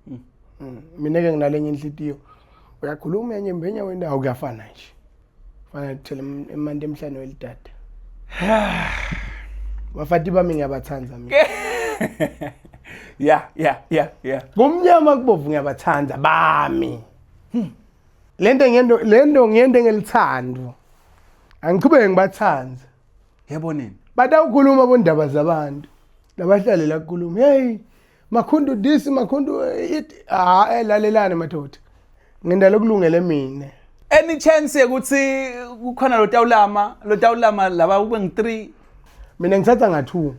Hmm. Hmm. mina ke nginalenye inhlitiyo uyakhuluma enye mbenya wendawo kuyafana nje fana thela emanti emhlane welidada bafati bami ngiyabathanda mina ya ya ya ya kumnyama kubovu ngiyabathanda bami hmm. lento ngento lento ngiyende ngelithando angiqhubeke ngibathanda yebo nini batawukhuluma bondaba zabantu labahlalela kukhuluma hey makhundu this makhundu it ha ah, elalelane eh, madoda ngenda lokulungele mina any chance ukuthi kukhona lo tawulama lo tawulama laba kube ngi 3 mina ngithatha nga 2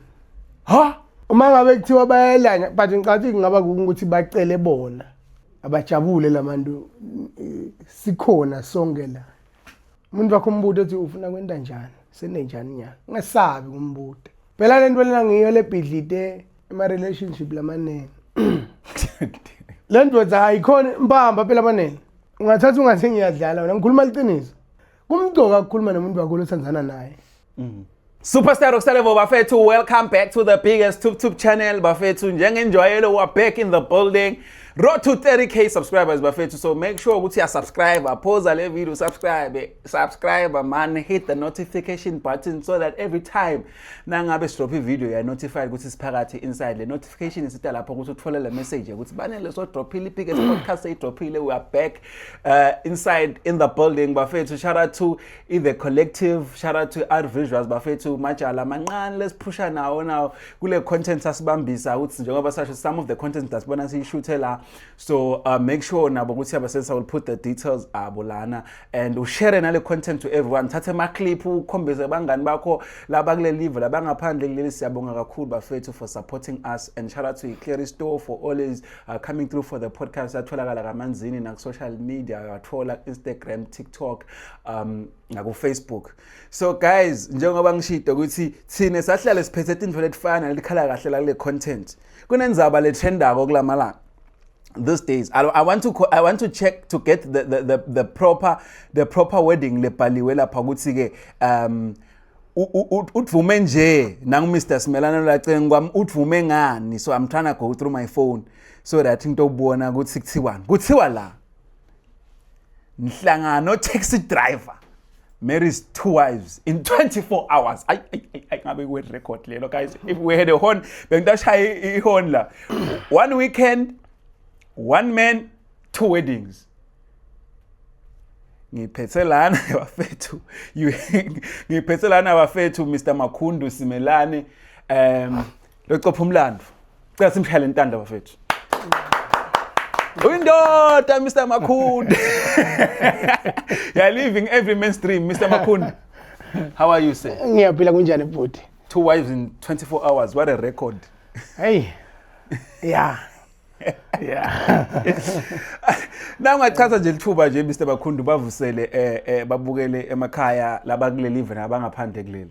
ha uma ngabe kuthiwa bayelanya but ngicathi kungaba ukuthi bacele bona abajabule labantu sikhona sonke la umuntu wakho umbude ethi ufuna kwenta njani senenjani nyana ungesabi kumbude phela le nto lena ngiyo lebhidlite ema-relationship lamanene le ndoda ayikhona mpamba phela abanele ungathatha ungathi ngiyadlala wena ngikhuluma liqiniso kumgcoka ukukhuluma nomuntu wakho lothandana naye mm. Superstar Roksalevo bafethu welcome back to the biggest tube tube channel bafethu njengenjwayelo we are back in the building road to 30k subscribers bafethu so make sure ukuthi ya subscribe aphoza le video subscribe subscribe man hit the notification button so that every time nangabe sidrop i video ya notified ukuthi siphakathi inside le notification isita lapho ukuthi uthole le message ukuthi banele so drophile biggest podcast say drophile we are back uh, inside in the building bafethu shout out to i-the collective shout out to art visuals bafethu majala mancane lesiphusha nawo nawo kule content sasibambisa ukuthi njengoba sasho some of the content dasibona siyishuthe la so uh, make sure nabo ukuthi abasensa will put the details abo lana and ushare nale content to everyone thathe amaclip ukhombise abangani bakho laba kule live labangaphandle kuleli siyabonga kakhulu bafethu for supporting us and shout out to Clary Store for always uh, coming through for the podcast atholakala kamanzini na social media athola Instagram TikTok um ngako Facebook so guys njengoba ngishito ukuthi thina sahlale siphethe into letifana lelikhala kahle la kule content kunenzaba le trendako kulamalanga these days I, I want to I want to check to get the the the, the proper the proper wording lebhaliwe lapha ukuthi ke um udvume nje nangu Mr Simelana lacenge kwami udvume ngani so I'm trying to go through my phone so that ngitobona ukuthi kuthiwani kuthiwa la ngihlangana no-taxi driver marries two wives in 24 hours ayi ngabe kwe record lelo guys if we had a horn bengitashaya ihorn la one weekend one man two weddings ngiphethe lana bafethu ngiphethe lana bafethu Mr Makhundu Simelane um Locopha umlando. Cela simshayele intanda bafethu. Uyindoda Mr Makhunde. you are living every mainstream Mr Makhunde. How are you sir? Ngiyaphila kunjani bhuti? Two wives in 24 hours. What a record. Hey. Yeah. yeah na ungachaza nje lithuba nje Mr Bakhundu bavusele eh, eh babukele emakhaya labakuleli even abangaphandle kuleli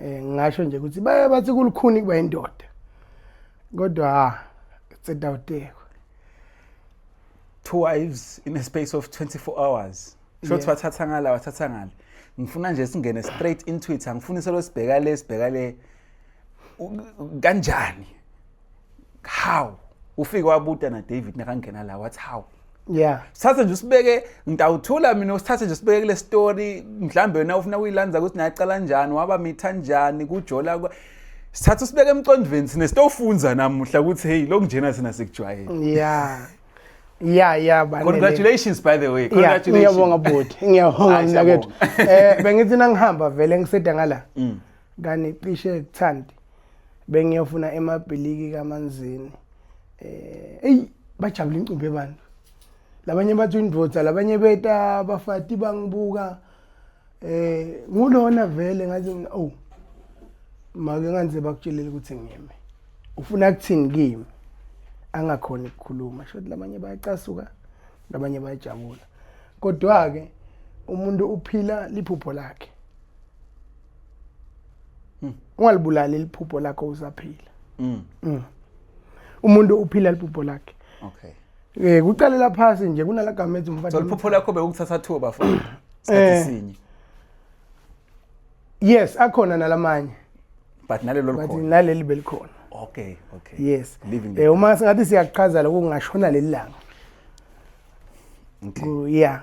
eh ngasho nje ukuthi baye bathi kulukhuni kuba indoda kodwa tsedawutekwa two wives in a space of 24 hours sho ukuthi wathatha ngala wathatha ngale ngifuna nje singene straight into it angifuni solo sibheka le sibheka le kanjani how ufike wabuta na David nakangena la wathi how yeah sithathe nje usibeke ngitawuthula mina usithathe nje usibeke kule story mhlambe wena ufuna kuyilanza ukuthi nayaqala njani waba mitha njani kujola sithatha usibeke emqondweni sine sitofunza namuhla ukuthi hey lokunjena sina sikujwayele yeah ya ya congratulations by the way congratulations ngiyabonga bhuti ngiyabonga mnakethu eh bengithi nangihamba vele ngiseda ngala mm. Kani cishe kuthandi bengiyofuna emabhiliki kamanzini. Eh, ey bajabula incumbi abantu. Labanye bathi indvodza, labanye beta bafati bangibuka. Eh, ngulona vele ngathi mina oh. Make nganze bakutshelile ukuthi ngiyeme. Ufuna kuthini kimi? Angakhona ukukhuluma. Shothi labanye bayacasuka, labanye bayajabula. Kodwa ke umuntu uphila liphupho lakhe. mm. ungalibulali liphupho lakho usaphila mm. mm. umuntu uphila liphupho lakhe okay eh kucalela phansi nje kunala gama ethi umfana so liphupho lakho bekukuthatha thuba fo eh. sikhathi sinye yes akhona nalamanye but nalelo likhona but naleli belikhona okay okay yes eh uma singathi siyaqhazala kungashona lelanga okay yeah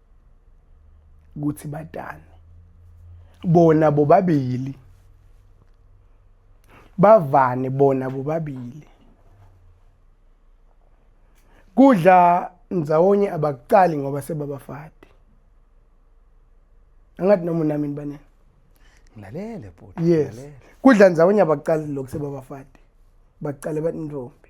ukuthi batani bona bobabili bavane bona bobabili kudla ndzawonye abakucali ngoba sebabafati angathi noma unami nibanini ngilalele bhuti yes kudla ndzawonye abakucali lokhu sebabafati bacale bathi intombi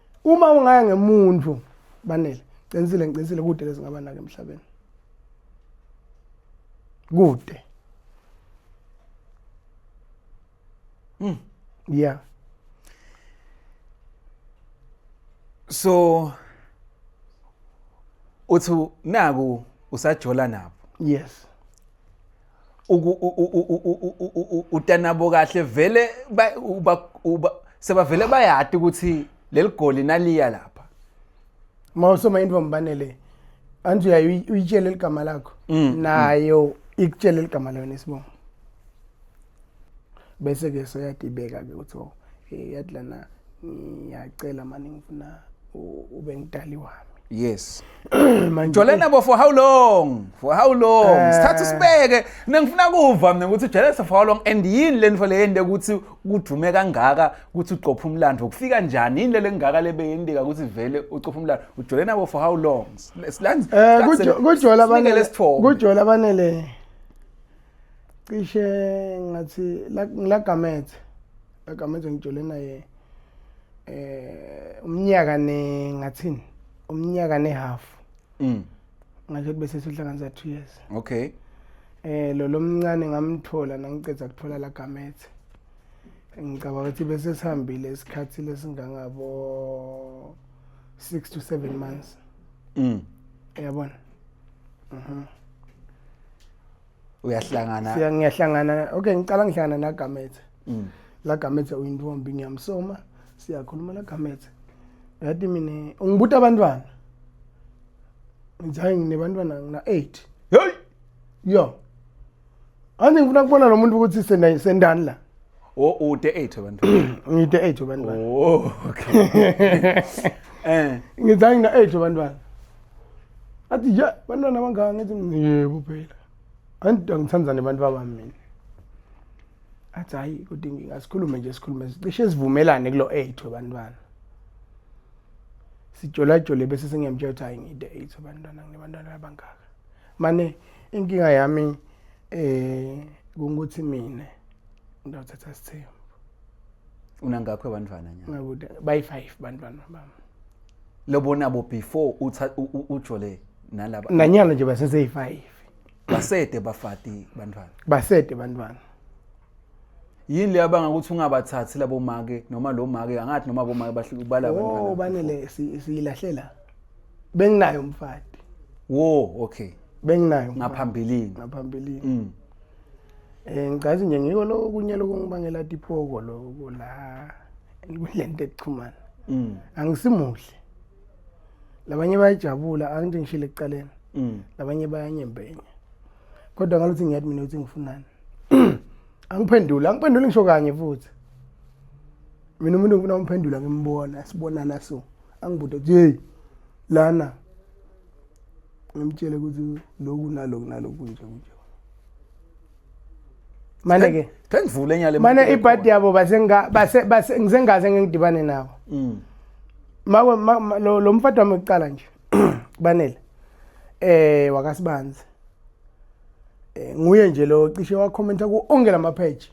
Uma ungaya ngemuntu banele qinisile ngiqinisile kude lezingaba nake emhlabeni. Kude. Mm. Yeah. So uthi naku usajola nabo. Yes. utanabo kahle vele sebavele bayati ukuthi leli goli naliya lapha uma usoma into mbanele anti uyaye uyitshele ligama lakho mm, mm. nayo ikutshele ligama lona isibongo bese ke soyadibeka ke ukuthi oh eh, yathi lana ngiyacela mani ngifuna ube ngidali wami yes jolene bo for how long for how long eh. sithatha sibeke nengifuna kuva mina ukuthi jolene for how long and yini le nto leyende ukuthi kudume kangaka ukuthi uqopha umlando ukufika njani yini lele ngaka lebeyendeka ukuthi vele uqopha umlando ujolene bo for how long silandze eh, kujola banele kujola banele cishe ngathi ngilagamethe lagamethe ngijole naye eh umnyaka ne ngathini umnyaka ne half mm ngathi bese sihlanganisa 2 years okay eh lo lomncane ngamthola nangiceda kuthola lagamethe ngicabanga ukuthi bese sihambile isikhathi lesingangabo 6 to 7 months mm yabona mhm mm uyahlangana siya ngiyahlangana okay ngicala ngihlangana na Gamethe mm. la Gamethe uyintombi ngiyamsoma siyakhuluma la Gamethe yathi mina ungibuta abantwana ngithi nginebantwana ngina 8 hey yo ande ngifuna kubona lo muntu ukuthi sendani sendani la o ude 8 abantu ngide 8 abantu oh okay eh ngithi ngina 8 abantu athi ya bantwana abangaka ngithi yebo phela anti angithanda nebantu babami mina athi hhayi kodwa inkinga sikhulume nje sikhulume cishe sivumelane kulo eight webantwana sijolajole bese sengiyamtshela ukuthi hhayi ngide eight webantwana nginebantwana abangaka mane inkinga yami um kungukuthi mina ndawuthatha sithembu unangakho abantwana nya ngakude bayi-five bantwana bami lobonabo before ujole nalaba nanyana nje baseseyi-five basede bafati bantwana basede bantwana yini leyo abanga ukuthi ungabathathi labo make noma lo make angathi noma bo make bahlukubala abantwana oh banele siyilahlela benginayo umfati wo okay benginayo ngaphambilini ngaphambilini mm. Eh ngicazi nje ngiko lo kunye lokungibangela tipoko lo la kulento ekuchumana. Mm. Angisimuhle. Labanye bayajabula angithi ngishile ekuqaleni. Mm. Labanye bayanyembenya. Kodwa ngaluthi ngiyathi mina uthi ngifunani. Angiphendula, angiphenduli ngisho kanye futhi. Mina umuntu ngifuna umphendula ngimbona, sibonana so. Angibude, "Hey, lana ngimtshele ukuthi lokhu nalokhu nalokhu kunje kunje mane ke ngivule nyale mane ibhadi yabo basenga base base ngisengaze ngidibane nawo mm mawe lo mfati wami kuqala nje banele eh wakasibanzi eh nguye nje lo cishe wakhomenta ku onke lama page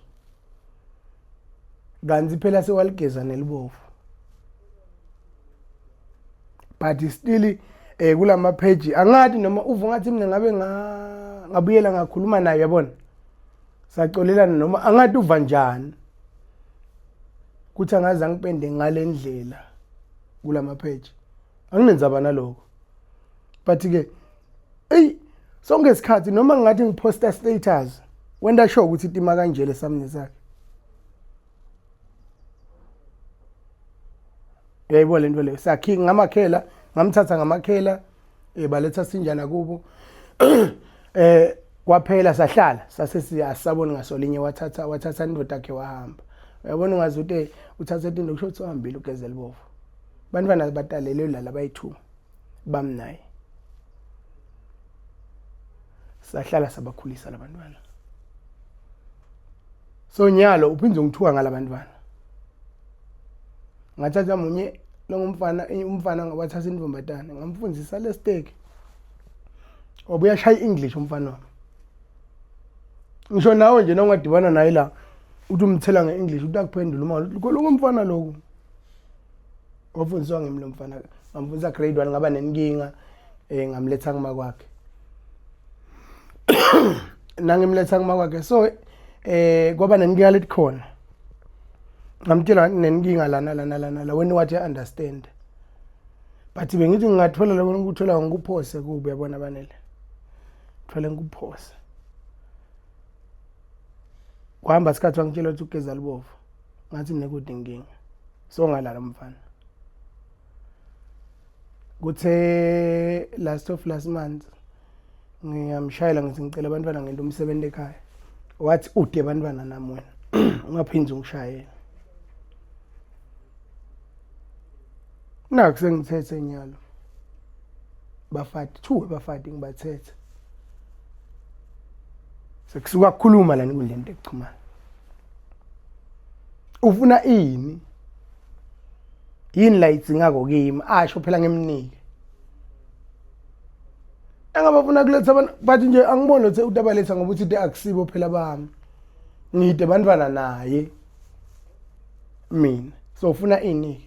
kanti phela sewaligeza nelibovu but still eh kulama page angathi noma uva ngathi mina ngabe ngabuyela ngakhuluma naye yabona saxolelana noma angathi uva njani kuthi angaze angipende ngalendlela kulama page anginenzaba naloko but ke eyi sonke isikhathi noma ngingathi ngiphosta status wenda sho ukuthi itima kanje lesamni sakhe yayibona lento leyo sakhi ngamakhela ngamthatha ngamakhela eh baletha sinjana kubo eh kwaphela sahlala sase siyasabona ngasolinye wathatha wathatha indoda yakhe wahamba uyabona ungazi ukuthi uthatha into kusho ukuthi uhambile ugezela bovu bantwana batalelwe lala bayithuma bamnaye sahlala sabakhulisa labantwana so nyalo uphinde ungithuka ngalabantwana ngathatha munye longumfana umfana wathatha intombazane ngamfundisa lesteki wabuya shaya i-english umfana wami ngisho nawe nje nongadibana naye la uthi umthela nge-english uthi akuphendula uma lokho loko mfana lokho wafundiswa ngimi lo mfana ngamfundisa grade one ngaba nenkinga um ngamletha kuma kwakhe nangimletha kuma kwakhe so um kwaba nenkinga lethi khona ngamtshela nenkinga lana lana lana la wena wathi understand but bengithi ngingathola lokho ngikuthola ngikuphose kubi yabona banele thole ngikuphose kuhamba isikhathi wangitshela ukuthi ugeza libovu ngathi mina kude inkinga so ngalala mfana kuthe last of last month ngiyamshayela ngithi ngicela abantwana ngento umsebenzi ekhaya wathi ude abantwana nami wena ungaphindi ungishayela naku sengithethe nyalo bafati two bafati ngibathethe sekusuka kukhuluma lana enkundleni yokuxhumana ufuna ini yini la idzingako kimi asho phela ngemnike engabafuna kuletha abantu bathi nje angiboni lothe utabaletha ngoba uthi akusibo phela bami ngide bantwana naye mina so ufuna ini-ke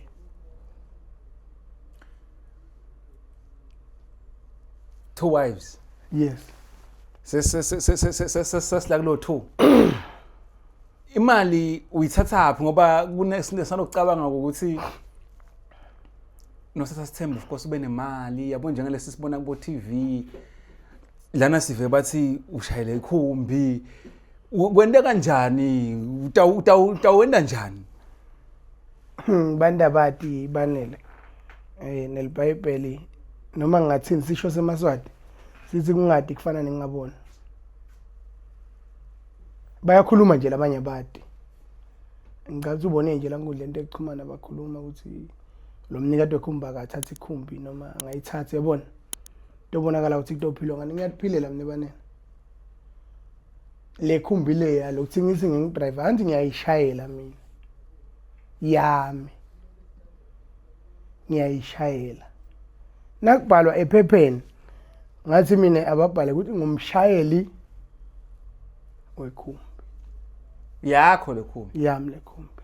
two wives yes sesila kulo two imali uyithathaphi ngoba kunesinto esanokucabanga ukuthi nosatha sithemba of course ube nemali yabo njengalesi sibona kubo TV lana sive bathi ushayele ikhumbi kwente kanjani utawenda njani hmm, bantu abati banele um eh, nelibhayibheli noma ngingathini sisho semaswati sithi kungadi kufana nengingaboni bayakhuluma nje labanye abati ngicabanga ukuthi ubone nje la nkundla into ekuxhumana bakhuluma ukuthi lo mnikati wekhumbi akathathe ikhumbi noma angayithathi yabona Tobonakala ukuthi kutophilwa ngani ngiyakuphilela mina banene. Le khumbi le ya lokuthi ngithi ngingidrive anti ngiyayishayela mina. Yami. Ngiyayishayela. Nakubhalwa ephepheni ngathi mina ababhale ukuthi ngumshayeli wekhumbi. Yakho le khumbi. Yami le khumbi.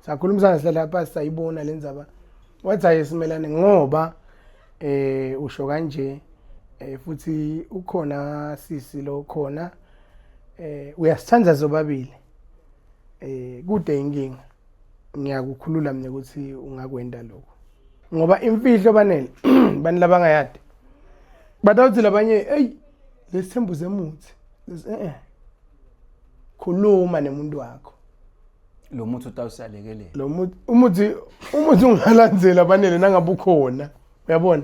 sakhulumisana sihlala lapha sayibona le ndzaba wathi hayi simelane ngoba eh usho kanje eh futhi ukhona sisi lo khona eh uyasithanda zobabili eh kude inkinga ngiyakukhulula mina ukuthi ungakwenda lokho ngoba imfihlo banele bani labangayadi batawuthi labanye hey lesithembu zemuthi eh, eh khuluma nemuntu wakho lo muthi utawusalekelela lo muthi umuthi umuthi ungalandzeli abanele nangabe ukhona uyabona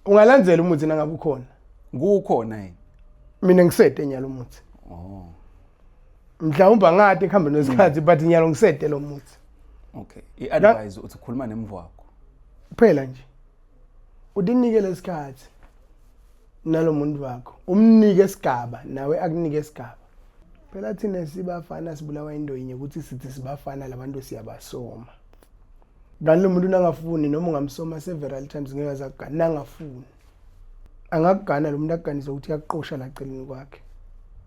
ungalandzeli umuthi nangabe ukhona kukhona yini mina ngisede nyalo umuthi oh mhlawumbe angade ekuhambe nesikhathi but nyalo ngisede lo muthi okay i-advise uthi khuluma nemvu wakho kuphela nje Udinike lesikhathi nalomuntu wakho. Umnike isigaba nawe akunike isigaba. Phela thina sibafana sibulawa into yinye ukuthi sithi sibafana labantu siyabasoma. Kanti lo muntu nangafuni noma ungamsoma several times ngeke azakugana nangafuni. Angakugana lo muntu akuganise ukuthi uyaqosha la celeni kwakhe.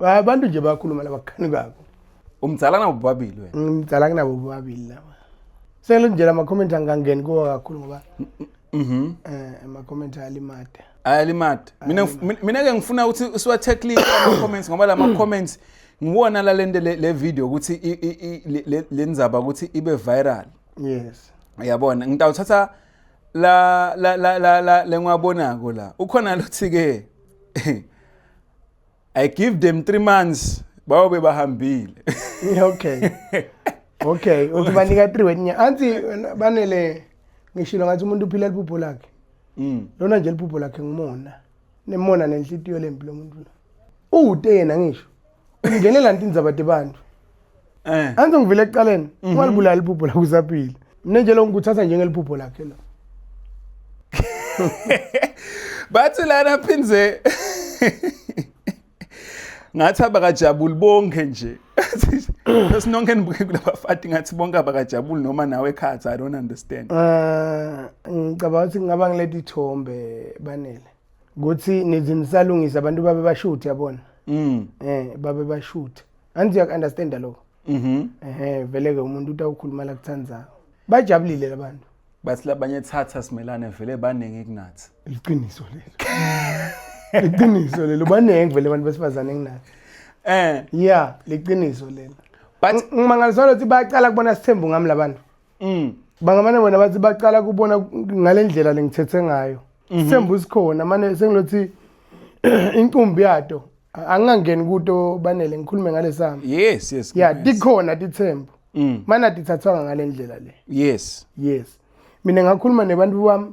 abantu nje bayakhuluma laba kukhani kwabo umdzala nabo bobabili wena ngimdala kunabo bobabili laba sele nje la makhomenti angangeni kuwo kakhulu ngoba mhm eh amakhomenti ayalimada ayalimada mina ngif- min- mina ke ngifuna ukuthi siwathekle ama comments ngoba la ma comments ngiwona la lento le le video ukuthi i- i- i- le- le- le ndzaba ukuthi ibe viral yes yabona ngitawuthatha la la la la la lengwabonako la ukhona lothi ke I give them 3 months bayobe bahambile. Okay. Okay, uthi banika 3 wenya. Anti banele ngishilo ngathi umuntu uphila iphupho lakhe. Mm. Lona nje iphupho lakhe ngimona. Nemona nenhlitiyo lempi lomuntu. Uwute yena ngisho. Ungenela ntinza bade bantu. Eh. Anze ngivile ekuqaleni, mhm. ungalibulali iphupho lakho usaphila. Mina nje lo ngikuthatha njengeliphupho lakhe lo. Bathi lana phinze ngathi abakajabuli bonke nje sinonke nibuke kulabafati ngathi bonke abakajabuli noma nawe ekhathi i don't understand eh ngicabanga ukuthi ngingaba ngilethe ithombe banele ukuthi nizinisalungisa abantu babe bashuthi yabona mm eh babe bashuthi angithi uyaku-understanda lokho mhm ehe vele-ke umuntu uthi awukhuluma la kuthandzayo bajabulile labantu bathi labanye thatha simelane vele baningi kunathi liqiniso lelo liqiniso lelo baningi vele abantu besifazane enginathi eh ya liqiniso lelo but ngimangaliswa lokuthi bayaqala kubona sithembu ngami labantu mm. bangamane bona bathi baqala kubona ngale ndlela lengithethe ngayo mhm. sithemba usikhona mane sengilothi inkumbi yato angingangeni kuto banele ngikhulume ngale sami yes yes ya tikhona tithembu mm. mana tithathwanga ngale ndlela le yes yes mina ngakhuluma nebantu bami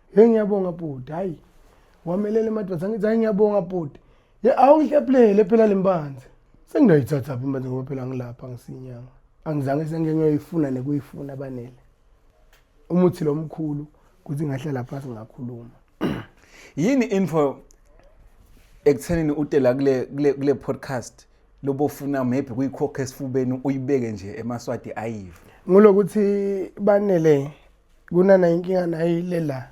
Hey ngiyabonga bhuti hayi wamelele madoda ngithi hayi ngiyabonga bhuti ye awungihlephulele phela lembanzi senginoyithatha phi manje ngoba phela ngilapha ngisinyanga angizange sengenyoyifuna nekuyifuna banele umuthi lo mkhulu kuthi ngahlala phansi ngakhuluma yini info ekuthenini utela kule kule kule podcast lobo funa maybe kuyikhokha esifubeni uyibeke nje emaswati ayive ngulokuthi banele kunana inkinga nayo ile la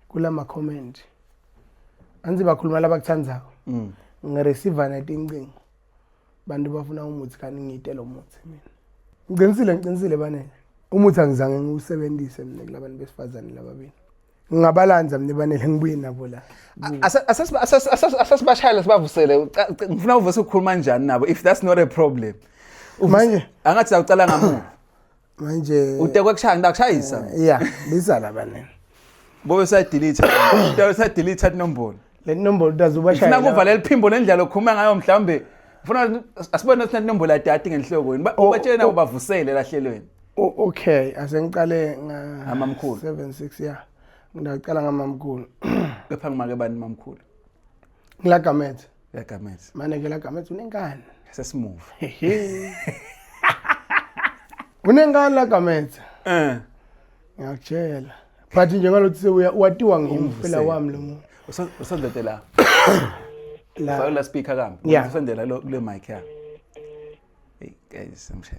kula ma-comment anzi bakhuluma labakuthandzako mm. ngireceiva netincingo bantu bafuna umuthi kanti ngiyite lo muthi mina ngiqinisile ngiqinisile banele umuthi angizange ngiwusebenzise mina kula bantu besifazane lababili ngingabalanza mina banele ngibuye nabo la asasibashayela sibavusele ngifuna uvuse ukukhuluma njani nabo if that's not a problem manje angathi sawucala ngamuva manje utekwe kushaya ngida kushayisa eh, yeah biza laba nini bobe sa delete utekwe sa delete inombolo le nombolo utazubashaya sina kuvala liphimbo lendlela okhuluma ngayo mhlambe ngifuna asibone ukuthi inombolo ya data ngenhloko yini oh, ubatshele nabo oh. bavusele lahlelweni oh, okay asengiqale nga amamkhulu 76 yeah ngidaqala ngamamkhulu kepha ngimake bani mamkhulu ngilagamethe Uyagamethe. Mane ke lagamethe unenkani. Sesimuva. Unenkani lagamethe. Eh. Ngiyakutshela. But nje ngalothi sewuya watiwa ngimfela wami lo muntu. Usondete la. La. Faka la speaker kambi. Usondela lo kule mic yakhe. Hey guys, I'm sure.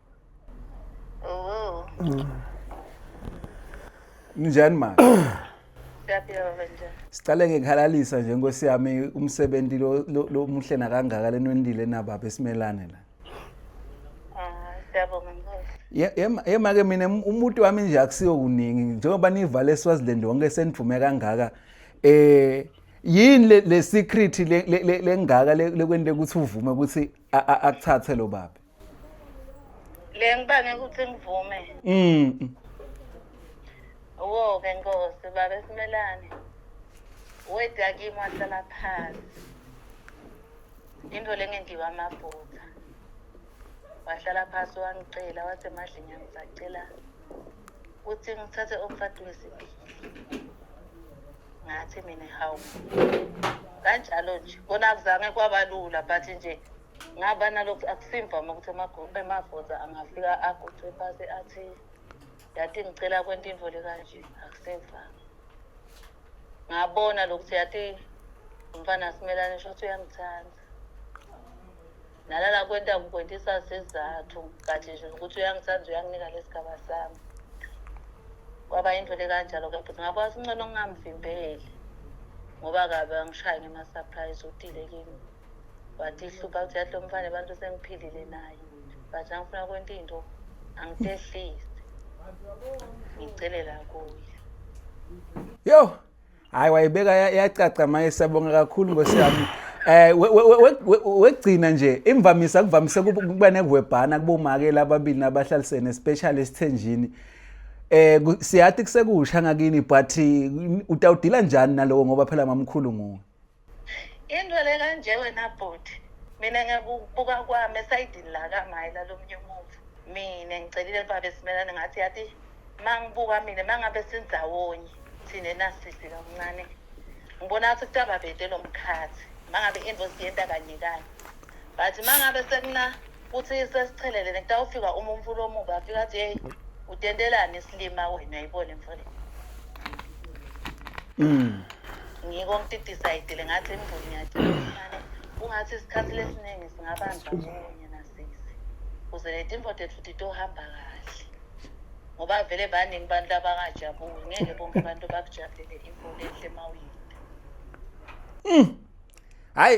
Njani manje? Siyaphila baba njani? Siqale ngekhalalisa nje nkosi yami umsebenzi lo lo- lo muhle nakangaka lenwendile nababa esimelane la. Ah, siyabonga Nkosi. Ye- yema- Yema ke mina um- umuntu wami nje akusiyo kuningi njengoba nivale eSwaziland wonke senivume kangaka eh yini le- le secret le- le- le- lengaka le- lekwente ukuthi uvume ukuthi a- a- akuthathe lo baba. le ngibange ukuthi ngivume mm wo ke nkosi baba simelane weda kimi wahlala phansi into lengengiwa amaphutha wahlala phansi wangicela wathi emadlini angisacela ukuthi ngithathe umfati wesibili ngathi mina hawu kanjalo nje kona kuzange kwabalula but nje ngaba nalokhu akusimvama ukuthi emagoza angafika aguqe phasi athi yati ngicela kwenta intfo lekanje akusimvama ngabona lokuthi yati umfana simelane shothi uyangithanda nalala kwenta kukwentisa sizathu kathi nje ukuthi uyangithanda uyanginika lesigaba sami kwaba into lekanjalo ke bhuti ngakwazi uncono ngingamvimbeli ngoba kabe angishaye ngema-surprise utile kimi wathi ihlupha ukuthi yathi lo mfana abantu sengiphilile naye but angifuna kwenta into angitehlise ngicelela kuye yo hayi wayibeka yacaca maye siyabonga kakhulu nkosi yami eh wegcina nje imvamisa kuvamise kuba nekuwebhana kubomake ababili nabahlalisene especially esithenjini eh siyathi kusekusha ngakini but utawudila njani nalowo ngoba phela mamkhulu nguwe Into le kanje wena bhuti mina ngiyakubuka kwami esayidini la kamayi lalomnye umuva mina ngicelile baba esimelane ngathi yathi uma ngibuka mina uma ngabe sindawonye thina enasisi kamncane ngibona ngathi kutaba bede lo mkhathi uma ngabe into siyenta kanye kanye but uma ngabe sekuna futhi sesichelelene kutawufika uma umfula omubi afika athi yeyi utentelani isilima wena uyayibona imfula Mm. ngiko ngitidisayidile ngathi imvula ngiyadilane ungathi isikhathi lesiningi singabanjwa kunye nasisi kuze le timfote futhi tohamba kahle ngoba vele baningi abantu labangajabuli ngeke bonke abantu bakujabulele imvula enhle mawuyinde Hayi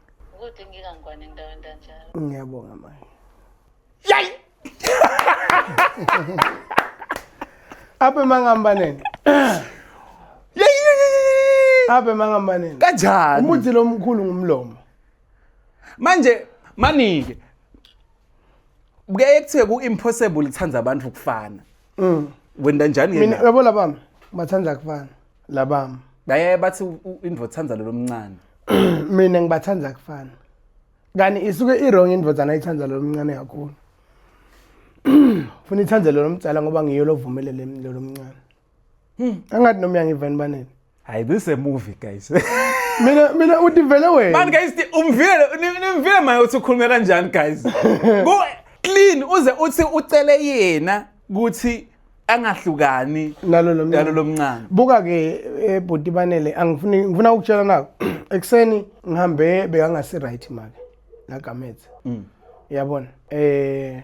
Ukuthi ngikangwane ndawo ndanjalo. Ngiyabonga manje. Yay! Abe mangambaneni. Abe mangambaneni. Kanjani? Umuthi lo mkhulu ngumlomo. Manje manike. Kuyaye kuthiwe ku impossible ithanda abantu ukufana. Mm. Wenda njani yena? Mina yabo labami bathanda kufana labami. Bayaye bathi indvo thanda lo lomncane. Mina ngibathanda kufana. Kani isuke i wrong indvo thanda ithanda lo mncane kakhulu. Funa ithanda lo lomtsala ngoba ngiyo lovumelele lo lomncane. Hmm. Angathi nomya ngivani banini. Hayi this is a movie guys. Mina mina uthi vele wena. Man guys umvile nimvile maye uthi ukhuluma kanjani guys. Ku clean uze uthi ucele yena ukuthi angahlukani nalo lomncane buka ke eh, bhuti banele angifuni ngifuna ukutshela nako ekuseni ngihambe bekangasi right make lagamethe mm. uyabona eh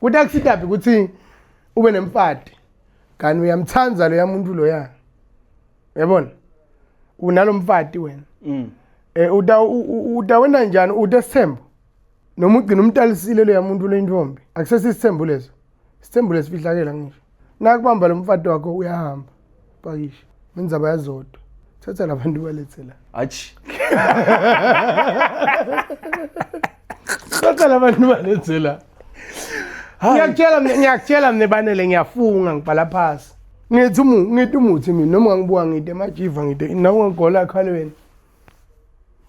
kuthi akusitabi ukuthi ube nemfati kanti uyamthanda lo yamuntu lo ya yabona unalomfati wena mm. eh uda uda wena njani ude sithembo noma ugcina umtalisile lo yamuntu le ntombi akusesi isithembu leso isithembu lesifihlakela ngisho nakubamba lomfati wakho uyahamba pakisha indzaba yazodwa thatha labantu balethe la atshi thatha labantu balethe la ngiyakutshela mina ngiyakutshela mina banele ngiyafunga ngibhala phasi ngithi umu ngithi umuthi mina noma ngibuka ngide emajiva ngide nawe ngigola ekhalweni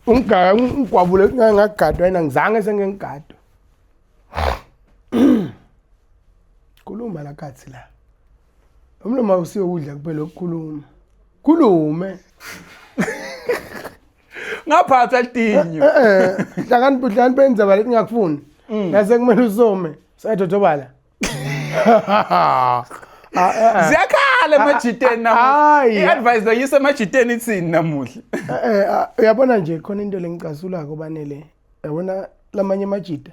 ungigaya ngigwabule ngagadwa yena ngizange sengengigadwa khuluma la kathi la Umlomo awusiwe ukudla kuphela ukukhuluma. Khulume. Ngaphatha litinyo. Eh, eh, eh. Hlakani budlani benza bale kungakufuni. Mm. Nase kumele usome. Sayadodobala. Ah, eh, eh. ziyakhala ah, emajiteni ah, namuhla i-advice bayisa emajiteni ithini namuhla eh, uyabona nje khona into lengicasulako banele yabona lamanye amajita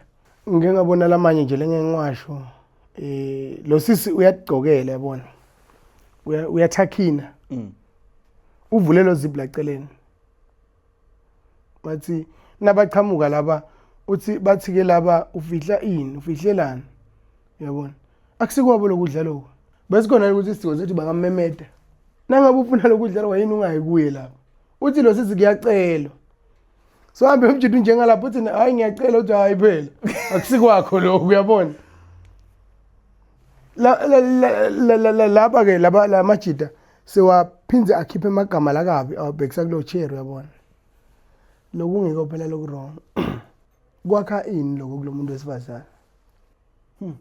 ngingabona lamanye nje lengengiwasho eh lo sisi uyagcokela yabona uyathakhina mm. uvule lo zip laceleni bathi nabaqhamuka laba uthi bathi ke laba ufihla ini ufihlelana yabona akusikwabo lokudla lokho besikhona ukuthi isidingo sokuthi bangamemeda nangabe ufuna lokudla lokho yini ungayi kuye lapho uthi lo sisi kuyacelwa so hambe umjita unjengalapho uthi hayi ngiyacela uthi hayi phela akusikwakho lokho uyabona laba ke laba la majita sewaphinde akhiphe amagama la kabi awabhekisa kulo chair uyabona lokungekho phela loku wrong kwakha ini lokho kulomuntu wesifazana hmm.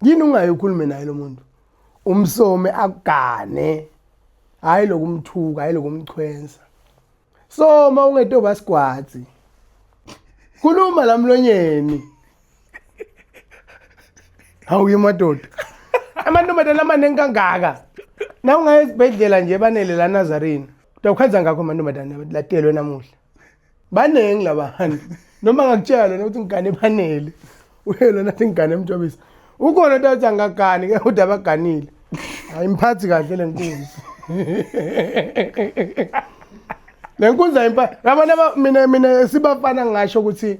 yini ungayi ukhulume naye lo muntu umsome agane hayi lokumthuka hayi lokumchwensa so uma ungetoba sigwazi khuluma la mlonyeni awuye madoda amantombazane amaningi kangaka na ungaya esibhedlela nje banele la nazarene utawukhanza ngakho amantombazane latelwe namuhla baningi labantu noma ngakutshela lona ukuthi ngigane banele uyelo nathi ngigane emjobisa ukhona into athi angagani ke ude abaganile ayimphathi kahle le nkunzi le nkunzi ayimphathi yabona mina mina sibafana ngisho ukuthi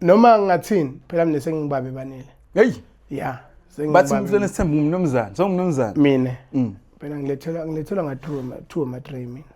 noma ngathini phela mina sengibabe banele hey ya bathi mfana sithemba umnumzane so umnumzane mina mm. phela ngilethela ngilethela nga two two ma three mina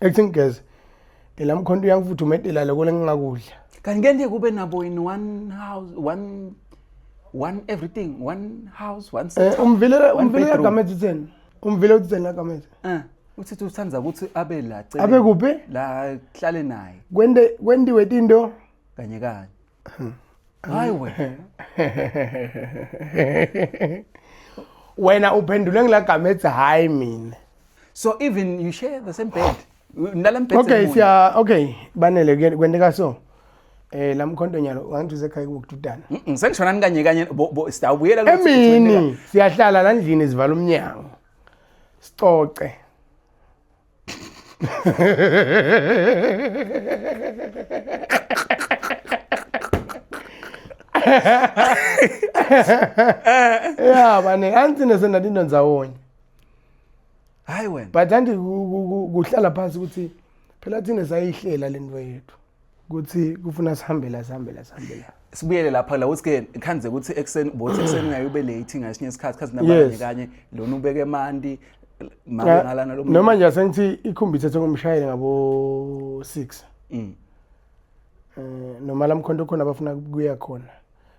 Acting guys. Ngela mkhonto uyangifutha umedela lokho lengingakudla. Kanti ngeke kube nabo in one house one one everything one house one Eh umvile umvile gamethi theni? Umvile uthi theni gamethi? Eh. Uthi uthanda ukuthi abe la cela. Abe kuphi? La hlale naye. Kwende kwendiwe into kanye kanye hayi wena wena uphendule ngilagama ethi hayi mina so even you share the same bed nilala mbhedeni okay munye. siya okay banele kuye- kwenteka so eh lamkhonto nyalo wangithi usekhaya kukududana Mm, mm, sengishona nikanye kanye bo- bo- sitawubuyela kulo sithi wena- emini siyahlala landlini sivala umnyango sicoce ya bane anti nesena dinto ndzawonye hayi wena but anti kuhlala phansi ukuthi phela thina sayihlela lento yethu ukuthi kufuna sihambe la sihambe la sihambe la sibuyele lapha la ukuthi ke khanze ukuthi ekseni bothi ekseni ngayo ube late ngasinye isikhathi khazi nabanye kanye lona ubeke mandi mangalana lo noma nje sengithi ikhumbi ithethe ngomshayeli ngabo 6 mm eh noma lamkhonto khona abafuna kuya khona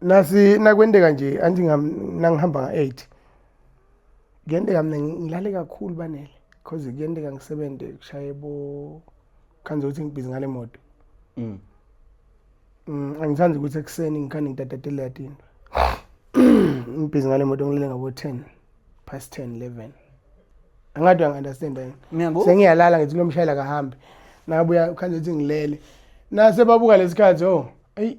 nasi nakwenteka nje anti nangihamba nga-8 kuyenteka mina ngilale kakhulu banele because kuyenteka ngisebenze kushaye bo khanze ukuthi ngibhizi ngale moto mm. mm angithandi ukuthi ekuseni ngikhani ngidadadele yatinto ngibhizi ngale moto ngilele ngabo 10 past 10 11 angathi uyangi-understand yini sengiyalala ngithi kulo mshayela kahambe nabuya ukhanze ukuthi ngilele nase babuka lesikhathi o oh, eyi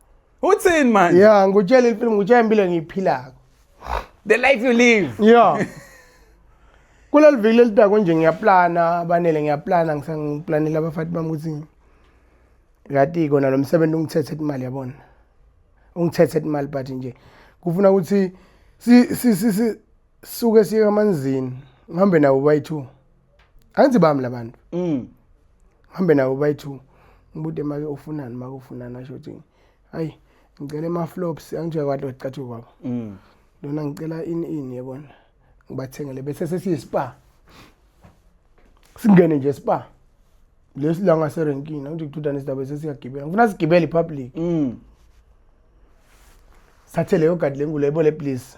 uthini manje ya ngutshela ifilimu ngutshela impilo engiyiphilako the life you live ya kuleli viki lelidako nje ngiyaplana abanele ngiyaplana ngisangiplanela abafati bami ukuthi kati kona lo msebenzi ungithethe imali yabona ungithethe imali but nje kufuna ukuthi si si si suke siye kamanzini ngihambe nawo bayi-two angithi bami labantu mm hambe nabo bayi2 ngibude make ufunani make ufunani asho ukuthi hayi ngicela ama flops angijwa kwathi wacathu kwabo mm lona ngicela in in yebona ngibathengele bese sesiyi spa singene nje spa lesilanga serenkini angithi kuthutha nesidaba sesiyagibela ngifuna sigibele ipublic mm sathe leyo gadi lengulo yebo le please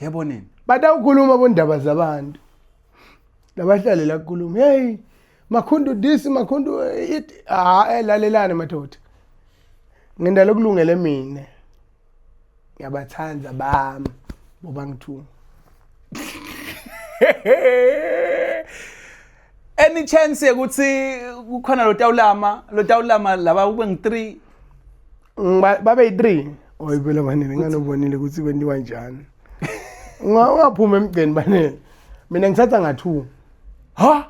yebo nini batawukhuluma bondaba zabantu labahlale la kukhuluma hey makhundu this makhundu it ah elalelane madoda ngenda lokulungele mina ngiyabathanda bami boba ngithunga any chance ukuthi kukhona lotawulama lotawulama laba kube ngi-3 babe yi-three oyibela banini nganobonile ukuthi kwentiwa njani ungaphuma emgceni banini mina ngithatha nga-two ha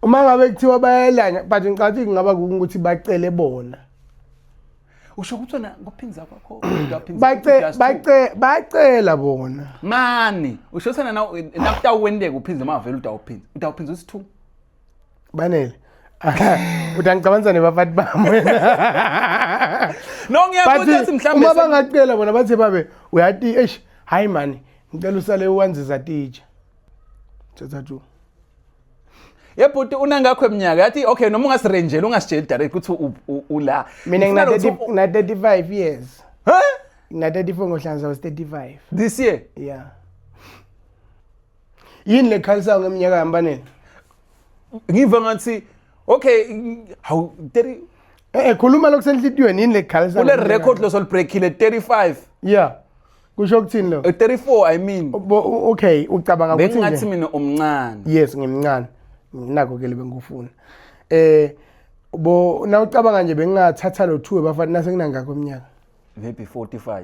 uma ngabe kuthiwa bayelanya but ngicathi kungaba ukuthi bacele bona usho ukuthi wena kuphindza kwakho bacela bona mani usho sena nakutawuwenteka uphindze uma vele utawuphindza utawuphindza usi-two banele uthi angicabanisa nebafati bami wena no ngiyabuthi athi mhlawumbe uma bangacela bona bathe babe uyati eish hayi mani ngicela usale uwanziza titsha thatha two yebhuti unangakho eminyaka yathi okay noma ungasirenjela ungasitsheli direct ukuthi ula mina ngina 35 years huh ngina 34 ngohlanza was 35 this year yeah yini lekhalisayo ngeminyaka yami baneni ngiva ngathi okay hawu 30 eh, eh khuluma lokusenhlitiyweni yini lekhalisayo kule record losolibreakile 35 yeah kusho ukuthini lo 34 eh, i mean okay ucabanga ukuthi bengathi mina umncane yes ngimncane nginako ke lebengikufuna eh bo nawucabanga nje bengingathatha lo two bafana nasenginangakho iminyaka maybe 45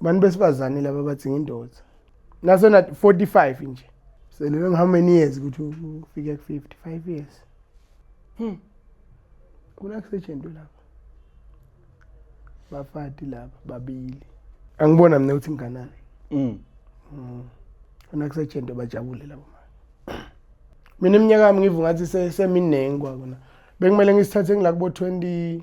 Abantu besifazane laba bathi ngindoda. Nasona 45 nje. Selele how many years ukuthi ufike ku 55 years. Hmm. Kuna kusetshenzwe lapha. Bafati laba babili. Angibona mina ukuthi nginganani. Mm. Mm. Kuna kusetshenzwe bajabule labo manje. Mina iminyaka yami ngivu ngathi seminingi kwakona. Bekumele ngisithathe ngila kubo 20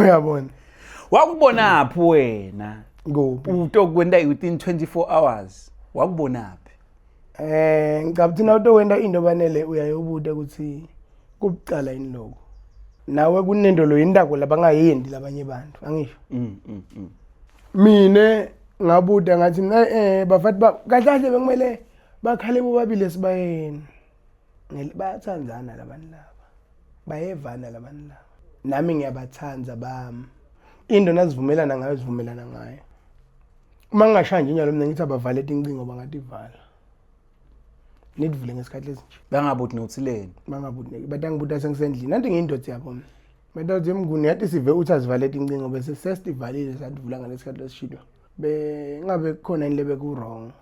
uyabona wakubonaphi wena kuphi utokwenda within 24 hours wakubonaphi eh ngicabanga ukuthi nawutokwenda into banele uyayobuta ukuthi kubucala yini lokho nawe kunento lo yindako labangayendi labanye bantu angisho mm, mm, mm. mina ngabuda ngathi mina eh bafati ba kahle kahle bekumele bakhale bobabili esibayeni bayathandana labantu laba bayevana labantu laba nami ngiyabathanda bami into nazivumelana ngayo zivumelana ngayo uma ngingashaya nje njalo mina ngithi abavale tincingo bangativala nidivule ngesikhathi esinje bangabuthi nothileni bangabuthi bathi angibuthi sengisendlini nanti ngiyindoda yabo mina Mntathi Mnguni yathi sive uthi azivalele incingo bese sesivalile sadivula ngalesikhathi lesishilo. Bengabe kukhona into lebeku wrong.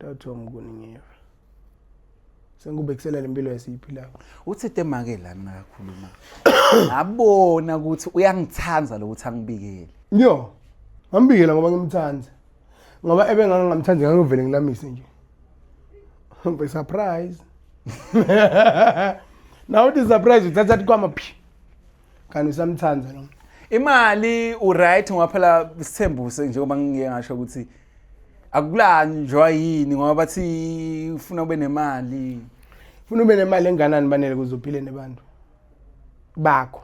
Dr. Mkuningiwe. Sengikubekisela lempilo esiyiphilayo. Uthi temake la nakakhuluma. Ngabona ukuthi uyangithanda lokuthi angibikele. Yo. Ngambikela ngoba ngimthanda. Ngoba ebe ngangingamthandi ngangivele ngilamise nje. Ngbe surprise. Now this surprise uthatha kwama phi. kanti usamthanda lo imali uright ngoba phela isithembuso njengoba ngike ngasho ukuthi akulanjwa yini ngoba bathi ufuna ube nemali ufuna ube nemali enganani banele kuze uphile nebantu bakho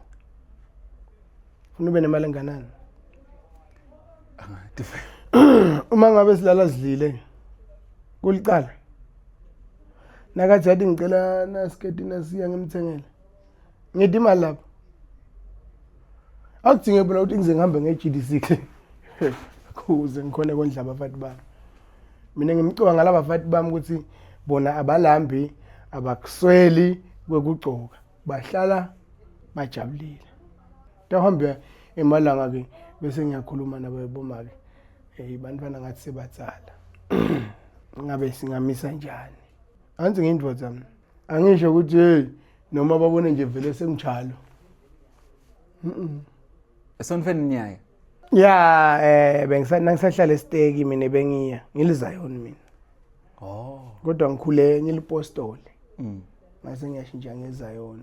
ufuna ube nemali enganani uma ngabe silala sidlile kuliqala nakathi yathi ngicela nasiketi nasiya ngimthengele ngidi imali lapho akudinge bona ukuthi ngize ngihambe nge-gdc kle kuze ngikhone kondla abafati bami mina ngimcoka ngalaba bafati bami ukuthi bona abalambi abakusweli kwekugcoka bahlala bajabulile tawuhambe emalanga-ke bese ngiyakhuluma nabo yaboma-ke um bantwana ngathi sebatsala ngabe singamisa njani anzi ngiyindoda mna angisho ukuthi hey noma babone nje vele senginjalo esonifeni niyaye ya eh bengisanangisahlala esiteki mina bengiya ngilizayon mina oh kodwa ngikhule ngilipostole mm mase ngiyashintsha ngezayon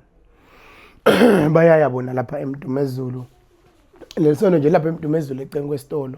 bayaya bona lapha emdumezulu lelisono nje lapha emdumezulu ecengu kwesitolo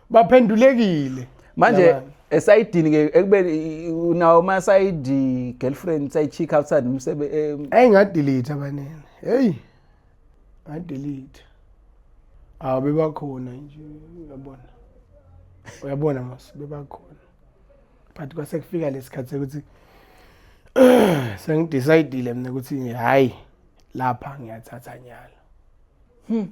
baphendulekile manje esayidini ke ekubeni unawo ma sayidi girlfriend sayichick outside umsebe ayi ngadelete abanene hey ngadelete awu bebakhona nje uyabona uyabona mas bebakhona but kwase kufika lesikhathi sekuthi sengidecidile mina ukuthi hayi lapha ngiyathatha nyalo hmm.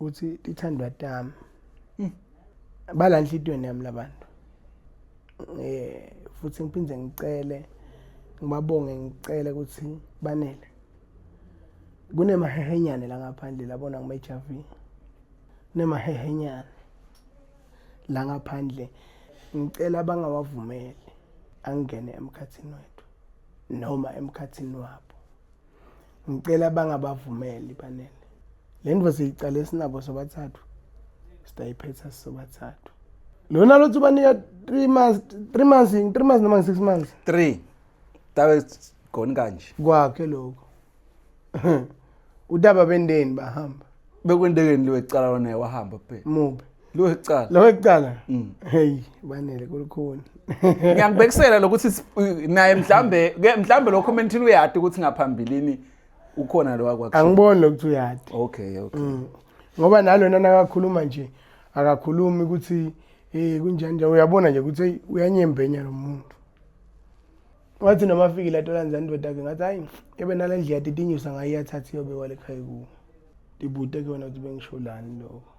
uthi ithandwa tami mm. bala nhlitweni yami labantu eh futhi ngiphinde ngicele ngibabonge ngicele ukuthi banele kunemahehenyane la ngaphandle labona ngimeJV kunemahehenyane la ngaphandle ngicela bangawavumeli angene emkhathini wethu noma emkhathini wabo ngicela bangabavumeli banele le ndvo siyicala esinabo sobathathu sitayiphetha sisobathathu lona lothi ubanika three months three months yini three months noma ngi-six months three tabe goni kanje kwakhe lokho udaba bendeni bahamba bekwendekeni liwecala lona wahamba phela mubi Lo ecala. Lo ecala. Mm. Hey, banele kulukhuni. Ngiyakubekisela lokuthi naye mhlambe ke mhlambe lo comment uyati ukuthi ngaphambilini ukhona lo wakwakusho. Angiboni lokuthi uyati. Okay, okay. Mm. Ngoba nalona nakakhuluma nje akakhulumi ukuthi eh kunjani nje uyabona nje ukuthi uyanyembenya lo muntu. Wathi noma afike la tola nzani ndoda ke ngathi hayi ebe nalendlela titinyusa ngayo yathatha iyobe kwale khaya ku. Dibude ke wena ukuthi bengisho lani lokho.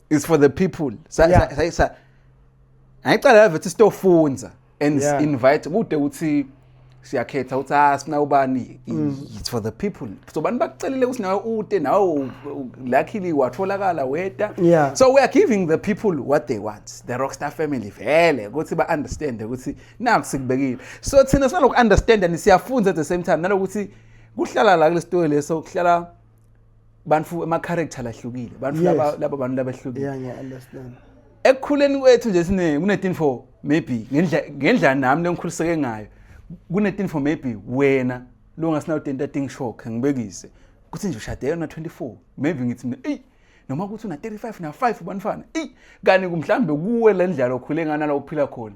is for the people sa Yeah. sa- sa- sa- ngayicala yave ukuthi sitofunza and Yeah. invite kude ukuthi siyakhetha ukuthi ah sina ubani Mm. it's for the people so bani bakucelile ukuthi nawe ute nawe u- u- luckily watholakala weta Yeah. so we are giving the people what they want the rockstar family vele ukuthi ba understand ukuthi naku sikubekile so thina sinaloku understand and siyafunza at the same time nalokuthi kuhlala la kulesitoyi leso kuhlala bantu ama character lahlukile bantu laba laba bantu labahlukile yeah ngiya understand ekukhuleni kwethu nje sine kunetin for maybe ngendla ngendla nami lengikhuliseke ngayo kunetin for maybe wena lo ngasinayo tenta thing shock ngibekise kuthi nje ushade yona 24 maybe ngithi mina ey noma ukuthi una 35 na 5 banifana ey kani kumhlambe kuwe lendlela okhule ngana la uphila khona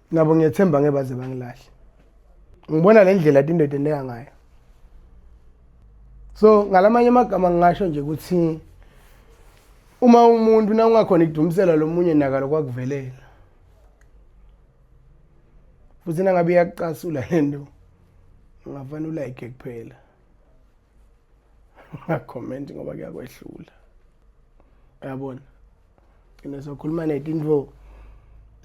nabo ngiyethemba ngeke baze bangilahle ngibona le ndlela tindoda endeka ngayo so ngalamanye amagama ngingasho nje ukuthi uma umuntu na ungakhona ikudumisela lo munye naka lokwakuvelela futhi nangabe iyakucasula le nto ungafana ulayike kuphela ungakhomenti ngoba kuyakwehlula uyabona ngizokhuluma netinto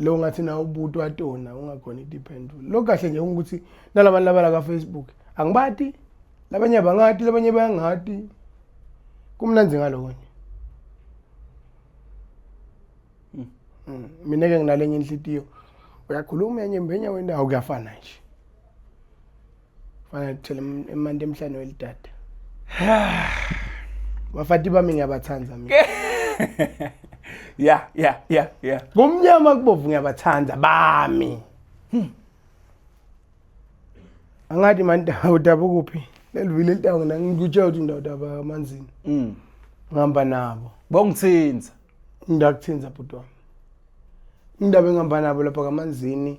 lo ngathi na ubuti watona ungakhona itiphendula lo kahle nje ukuthi nalabantu labala ka Facebook angibati labanye abangati labanye bayangati kumnandi ngaloko nje hmm. hmm. mina ke nginalenye inhlitiyo uyakhuluma yenye mbenya wendawo kuyafana nje fana ngithele emanti emhlane welidada bafati bami ngiyabathanda mina yeah yeah yeah yeah kumnyama kubovu ngiyabathanda bami hmm. angathi manje udaba ukuphi lelivile litawu mina ngikutshela ukuthi indawo daba amanzini mm ngihamba nabo bongithinza ngidakuthinza bhuti wami indaba engihamba nabo lapha kamanzini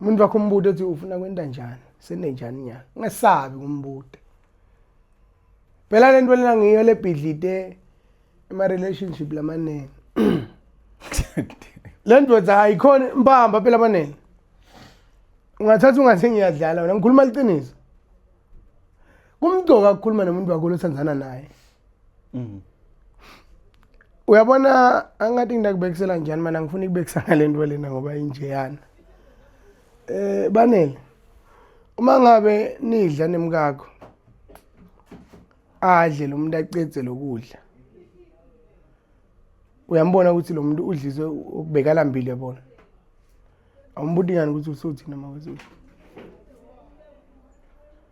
umuntu wakho umbude ethi ufuna kwenta njani senenjani nyana ungesabi kumbude phela le nto lena ngiyo lebhidlite ema-relationship lamanene le ndoda ayikhona mbamba phela abanele ungathatha ungathi ngiyadlala wena ngikhuluma liqiniso kumgcoka ukukhuluma nomuntu wakho lothandana naye mm. uyabona angathi ngidakubekisela njani mana ngifuna ikubekisa ngale nto lena ngoba injeyana um eh, banele uma ngabe nidla nemkakho adle lo muntu acedze lokudla uyambona ukuthi lo muntu udliswe okubekalambile bona awumbuti ngani ukuthi usuthini mawezulu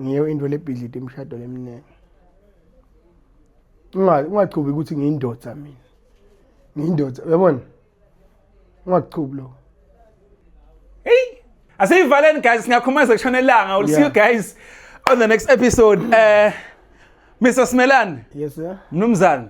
ngiyo into lebhidlite imishado leminingi ungachubi ukuthi ngiyindoda mina ngiyindoda uyabona ungachubi lokho asiyivaleni guys singakhumeza kushona elanga we'll yeah. see you guys on the next episode uh, Mr Smelani. Yes sir. Mnumzane.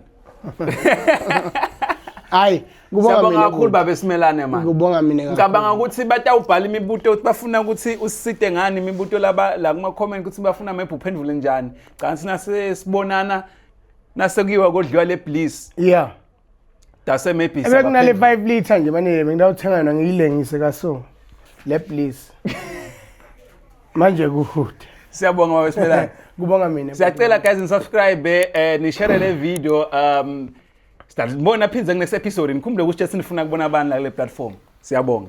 Hayi, kubonga mina. Siyabonga kakhulu baba Simelane manje. Kubonga mina kakhulu. Ngicabanga ukuthi batawubhala imibuto ukuthi bafuna ukuthi usisite ngani imibuto laba la kuma comment ukuthi bafuna ama uphendule njani. Cha sina sibonana nasekuyiwa kodliwa le bliss. Yeah. Dase maybe Ebekunale 5 liter nje manje bengidawuthenga yona ngiyilengise kaso. Le please. Manje kuhude. Siyabonga baba Sibelani. Kubonga mina. Siyacela guys ni subscribe eh ni share le video um Sibona phindze kunext episode nikhumbule ukuthi sinifuna kubona abantu la kule platform. Siyabonga.